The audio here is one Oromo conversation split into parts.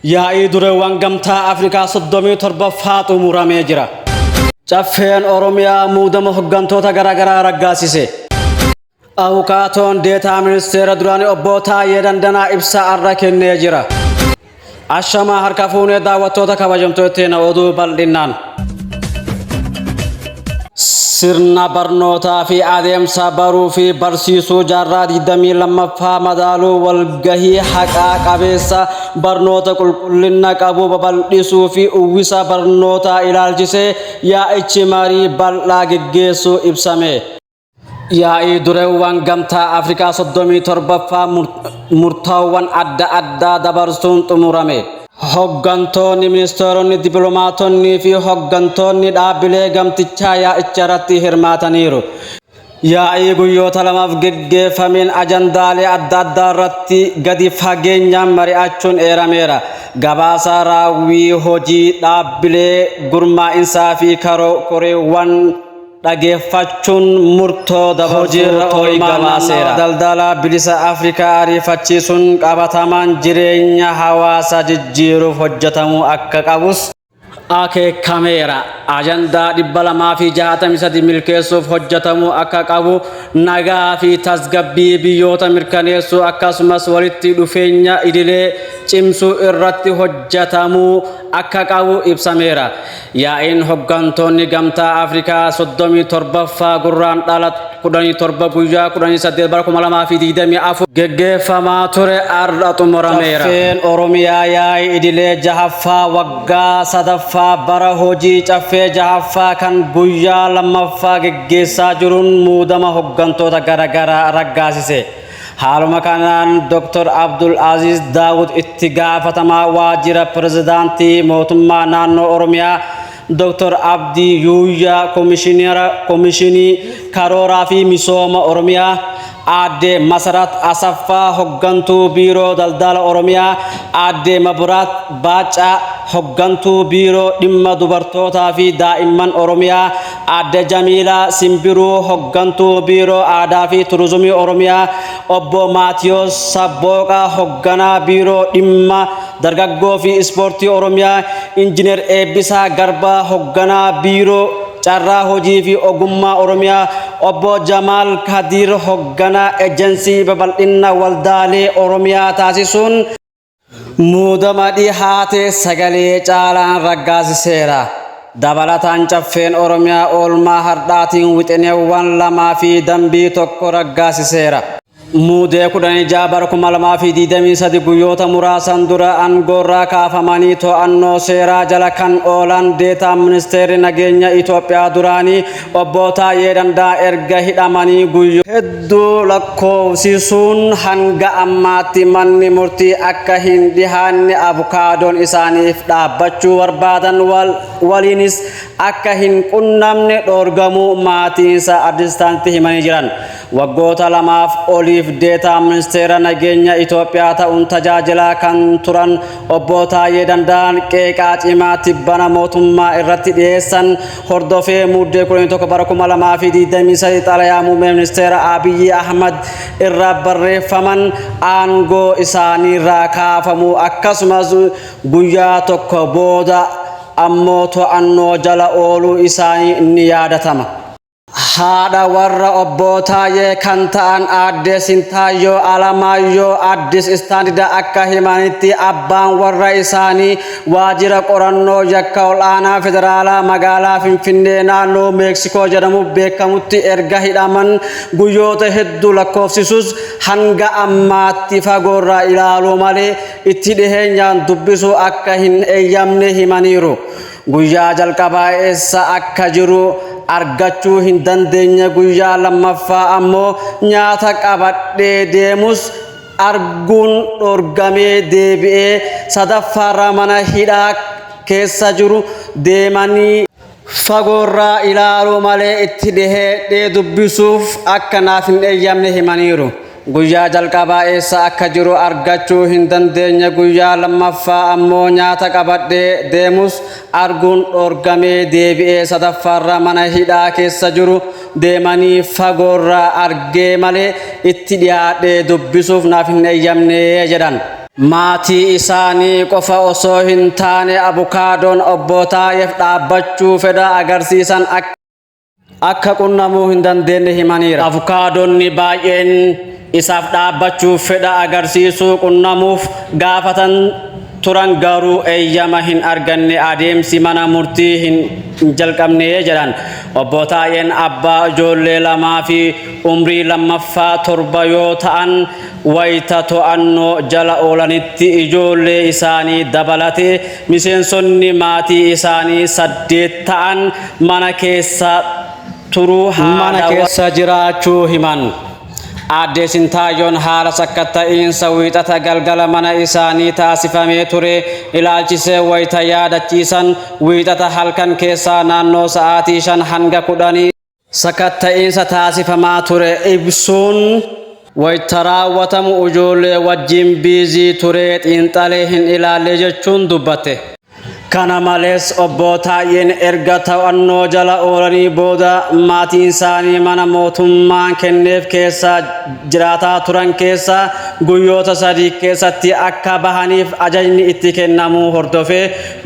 Yaa'ii dureewwan gamtaa Afrikaa 37ffaa xumuramee jira. Caffeen Oromiyaa muudama hoggantoota garaagaraa raggaasise. Abukaatoon deetaa ministeera duraanii obbo Taayee Dandanaa ibsa arra kennee jira. Ashamaa harka fuunee daawwattoota kabajamtootteena oduu bal'innaan. Sirna barnootaa fi adeemsa baruu fi barsiisuu jaarraa 22ffaa madaaluu walgahii haqaa qabeessa barnoota qulqullina qabu babal'isuu fi uwwisa barnootaa ilaalchisee yaa'ichi marii bal'aa geggeessuu ibsame. Yaa'ii dureewwan gamtaa Afrikaa 37ffaa murtaawwan adda addaa dabarsuun xumurame. Hoggantoonni, ministeeronni, dippilomaatonnii fi hoggantoonni dhaabbilee gamtichaa yaa'icharratti hirmaataniiru. Yaa'ii guyyoota lamaaf geggeeffameen ajandaalee adda addaa irratti gadi fageenyaan mari'achuun eerameera. Gabaasa raawwii hojii dhaabbilee gurmaa'insaa fi koreewwan dhageeffachuun murtoo dabarsuun olmaanummaa daldalaa bilisa Afrikaa ariifachiisuun qabatamaan jireenya hawaasaa jijjiiruuf hojjetamuu akka qabus akeekameera. Ajandaa 263 milkeessuuf hojjetamuu akka qabu, nagaa fi tasgabbii biyyoota mirkaneessuu akkasumas walitti dhufeenya idilee cimsuu irratti hojjetamuu akka qabu ibsameera. Yaa'iin hoggantoonni Gamtaa Afrikaa 37ffaa Gurraandhala 17 guyyaa 18 bara 2024 geggeeffamaa ture har'a xumurameera. Caffeen Oromiyaa yaa'ii idilee jahaffaa waggaa sadaffaa bara hojii caffee jahaffaa kan guyyaa lammaffaa geggeessaa jiruun muudama hoggantoota garaagaraa raggaasise. Haaluma kanaan Doktar Abdul Aziiz Daawud itti gaafatamaa waajjira pirezidaantii mootummaa naannoo Oromiyaa Doktar Abdii Yuuyyaa Komishinara Komishinii Karooraa fi Misooma Oromiyaa Aadde Masarat Asaffaa Hoggantuu Biiroo Daldala Oromiyaa Aadde Maburaat Baaccaa Hoggantuu Biiroo Dhimma Dubartootaa fi Daa'imman Oromiyaa Aadde Jamiilaa Simbiruu Hoggantuu Biiroo Aadaa fi Turizimii Oromiyaa, Obbo Maatiyoos Sabbooqa Hogganaa Biiroo Dhimma Dargaggoo fi Ispoortii Oromiyaa, Injiinar Eebbisaa Garbaa Hogganaa Biiroo Carraa Hojii fi Ogummaa Oromiyaa, Obbo Jamaal Kadiir Hogganaa Ejensii Babal'inna Waldaalee Oromiyaa taasisuun, Muudama dhihaate sagalee caalaan raggaasiseera. Dabalataan caffeen Oromiyaa oolmaa hardhaatiin wixineewwan lamaa fi dambii tokko raggaasiseera. Muudee 16 bara 2023 guyyoota muraasan dura angoorraa kaafamanii to'annoo seeraa jala kan oolan deetaan ministeerri nageenya Itoophiyaa duraanii Obbo Taayyee Dandaa erga hidhamanii guyyoo hedduu lakkoofsisuun hanga ammaatti manni murtii akka hin dhihaanne abukaadoon isaaniif dhaabbachuu barbaadan waliinis akka hin qunnamne dhoorgamuu maatiinsaa Addis Standarditti himanii jiran. Waggoota lamaaf oliif deetaa ministeera nageenya Itoophiyaa ta'uun tajaajilaa kan turan Obbo Taayyee Dandaan qeeqaa cimaa tibbana mootummaa irratti dhiyeessan hordofee muddee 11 bara 2023 xalayaa muummee ministeera Abiyyi Ahmad irraa barreeffaman aangoo isaaniirraa kaafamuu akkasumas guyyaa tokko booda ammoo to'annoo jala ooluu isaanii ni yaadatama. Haadha warra obbo Taayee kan ta'an aadde Sintaayyoo Alamaayyoo Addis Istaandida akka himanitti abbaan warra isaanii Waajjira qorannoo yakka ol'aanaa federaalaa magaalaa Finfinnee naannoo Meeksikoo jedhamuuf beekamutti erga hidhaman guyyoota hedduu lakkoofsisus hanga ammaatti fagoorraa ilaaluu malee itti dhiheenyaan dubbisuu akka hin eeyyamne himaniiru. Guyyaa jalqabaa eessa akka jiru argachuu hin dandeenye guyyaa lammaffaa ammoo nyaata qabadhee deemus arguun dhorgamee deebi'ee sadaffaarra mana hidhaa keessa jiru deemanii fagoorraa ilaaluu malee itti dhiheedhee dubbisuuf akka naaf hin eeyyamne himaniiru. Guyyaa jalqabaa eessa akka jiru argachuu hin dandeenye guyyaa lammaffaa ammoo nyaata qabadhee deemus arguun dhorgamee deebi'ee sadaffaarra mana hidhaa keessa jiru deemanii fagoorraa argee malee itti dhiyaadhee dubbisuuf naaf hin eeyyamne jedhan. Maatii isaanii qofa osoo hin taane abukaadoon obbo Taayeef dhaabbachuu fedha agarsiisan akka akka qunnamuu hin dandeenye himaniira. Avukaadonni baay'een isaaf dhaabbachuuf fedha agarsiisuu qunnamuuf gaafatan turan garuu eeyyama hin arganne adeemsi mana murtii hin jalqabne jedhan obbo Taayeen abbaa ijoollee lamaa fi umrii lammaffaa torba yoo ta'an wayita to'annoo jala oolanitti ijoollee isaanii dabalate miseensonni maatii isaanii saddeet ta'an mana keessa turuu mana keessa jiraachuu himan. Aaddee Sintaayyoon haala sakkatta'iinsa Wiixata galgala mana isaanii taasifamee ture ilaalchisee wayita yaadachiisan, Wiixata halkan keessaa naannoo sa'aatii 5 hanga 10tti, sakatta'iinsa taasifamaa ture ibsuun, wayita raawwatamu ijoollee wajjin biizii turee xiinxalee hin ilaalle jechuun dubbatte. Kana malees Obbo Taayyeen erga to'annoo jala oolanii booda maatiinsaanii mana mootummaan kenneef keessa jiraataa turan keessaa guyyoota sadii keessatti akka bahaniif ajajni itti kennamuu hordofee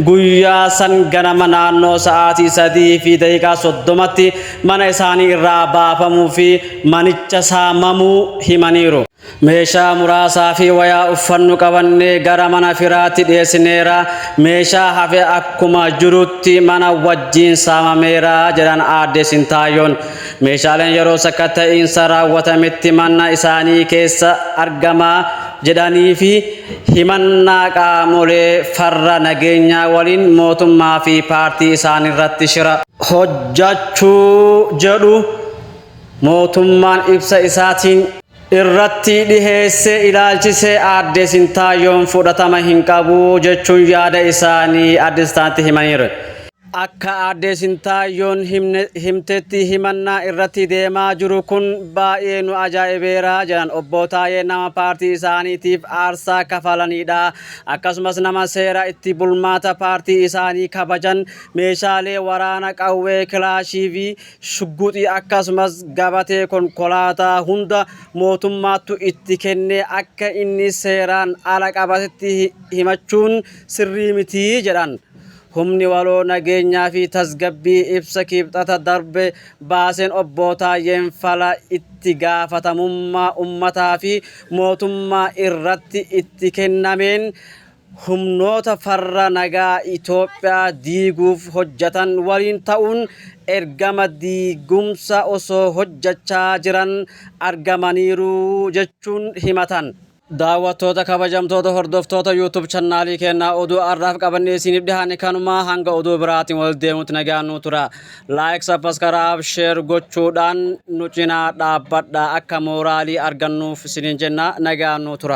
guyyaa san ganama naannoo sa'aatii 3:30tti mana isaanii irraa baafamuu fi manicha saamamuu himaniiru. Meeshaa muraasaa fi wayaa uffannu qabannee gara mana firaatti dhiyeessineera. Meeshaa hafe akkuma jirutti mana wajjin saamameera, jedhan Aadde Sintaayoon. Meeshaaleen yeroo sakatta'iinsa raawwatametti mana isaanii keessa argama jedhanii fi himannaa qaamolee farra nageenyaa waliin mootummaa fi paartii isaaniirratti shira hojjachuu jedhu. Mootummaan ibsa isaatiin. irratti dhiheesse ilaalchisee Aadde Sintaayyoon fudhatama hin qabu jechuun yaada isaanii Addis Standarditti himaniiru. Akka Aadde Sintaayyoon himtetti himannaa irratti deemaa jiru kun baay'ee nu ajaa'ibeera jedhan Obbo Taayeen nama paartii isaaniitiif aarsaa kafalaniidha. Akkasumas nama seera itti bulmaata paartii isaanii kabajan meeshaalee waraana qawwee kilaashiivii shugguxii akkasumas gabatee konkolaataa hunda mootummaattu itti kenne akka inni seeraan ala qabatetti himachuun sirrii miti jedhan. Humni waloo nageenyaa fi tasgabbii ibsa Kibxata darbe baaseen Obbo Taayyeen fala itti gaafatamummaa ummataa fi mootummaa irratti itti kennameen humnoota farra nagaa Itoophiyaa diiguuf hojjatan waliin ta'uun ergama diigumsa osoo hojjachaa jiran argamaniiru jechuun himatan. Daawwattoota kabajamtoota hordoftoota YouTube channaalii keennaa oduu arraaf qabannee isiiniif dhihaanne kanumaa hanga oduu biraatiin wal deemutti nagaan nuu tura. Like, Subscribe, Share gochuudhaan nu cinaa dhaabbadha akka mooraalii argannuuf isiniin jenna nagaan nuu tura.